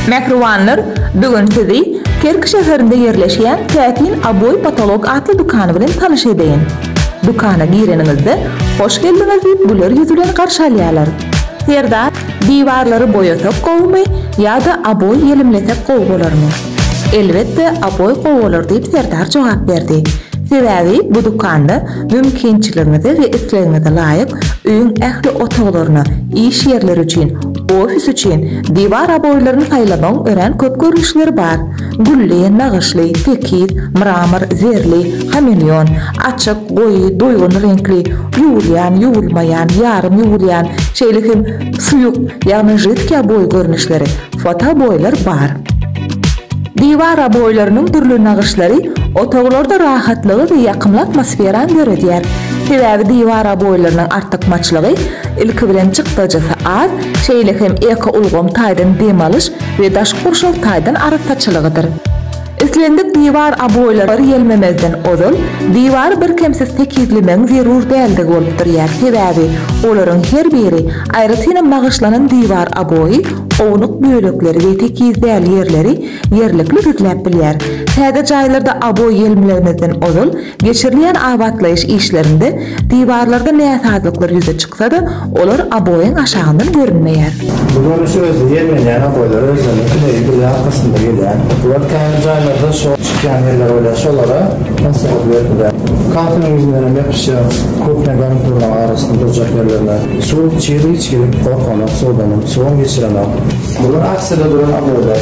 Mähribanlar bugün sizi Kerki şäherinde ýerleşýän Täsin Aboý Potolok atly dükany bilen tanyş edeýin. Dükana gireniňizde Hoş geldiňiz diýip güler ýüz bilen garşy alýarlar. Serdar, diwarlary boýasak gowumy ýa-da aboý ýelimlesek gowy bolarmy? Elbetde aboý gowy bolar diýip Serdar jogap berdi. Sebäbi bu dükanda mümkinçiligiňize we islegiňize laýyk öýüň ähli otaglaryna, iş ýerleri üçin, Ofis üçin diwar oboýlaryny saýlamagyň örän köp görnüşleri bar. Gülli, nagyşly, tekiz, mramor, zerli, hameleon, açyk, goýy, doýgun reňkli, ýuwulýan, ýuwulmaýan, ýarym ýuwulýan, şeýle hem suýuk, ýagny židkiý oboý görnüşleri, fotooboýlar bar. Diwar oboýlarynyň dürli nagyşlary otaglarda rahatlygy we ýakymly atmosferany döredýär. Sebäbi diwar oboýlarynyň artykmaçlygy Ilki bilen çykdajysy az, şeýle hem ekoulgam taýdan dem alyş we daşky gurşaw taýdan arassaçylygydyr. Islendik diwar aboýlary ýelmemezden ozal, diwary birkemsiz tekizlemegiň zerur däldigi bolup durýar, sebäbi olaryň her biri, aýratynam nagyşlanan diwar aboýy, ownuk bölekleri we tekiz däl ýerleri ýerlikli gizläp bilýär. Täze jaýlarda aboý ýelmlemezden ozal, Geçirilýän abatlaýyş işlerinde diwarlarda näsazlyklar ýüze çyksa-da, olar oboýyň aşagyndan görünmeýär. Bu görnüş özi ýerlenýän oboýlara özleriniň kileýi bile arkasynda gelýär. Bular käbir jaýlarda şor çykýan ýerler bolýar, şolara maslahat berilýär. Kafeliň ýüzündenem ýapyşýar, kuhňa garniturarynyň arasynda durjak ýerlerine. Suw çyg-yç gelip, gorkanok suwdanam, suwam geçirenok. Bular arsada duran oboýlar.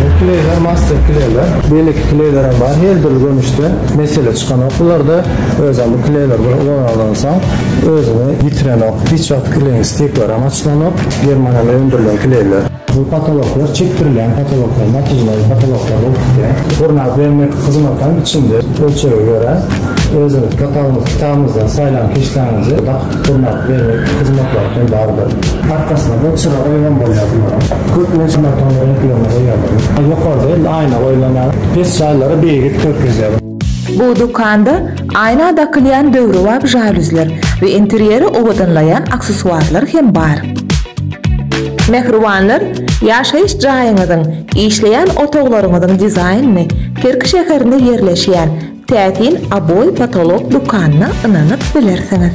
Bu kleýler master kleýler. Beýleki kleýler hem bar. Her dürli görnüşde mesele çykanok bularda. Özem bu kleýler bir ulanansoň özüni ýitirenok. Hiç wagt kleýiň stikleri hem açylanok. Germaniýada öndürilen kleýler. Bu potoloklar çekdirilýän potoloklar, natylmaly potoloklar bolup gidýär. Gurnap bermek hyzmaty hem içinde ölçege görä özüňiz potogymyzy kitabymyzdan saýlan keşdäňizi dakyp Durnap bermek hyzmatlary hem bardyr. Arkasyna-da çyra goýuňam bolýar bularyň. Köplenç monoton reňklerini goýýarlar. Ýokarda indi aýna goýlanýar. Pes jaýlara beýgit görkezýär. Bu dükanda aýna dakylýan döwrebap žaluzler we interýeri owadanlaýan aksessuarlar hem bar. Mähribanlar ýaşaýyş jaýyňyzyň, işleýän otaglaryňyzyň dizaýnyny Kerki şäherinde ýerleşýän Täsin Oboe Potolok dükanyna ynanyp bilersiňiz.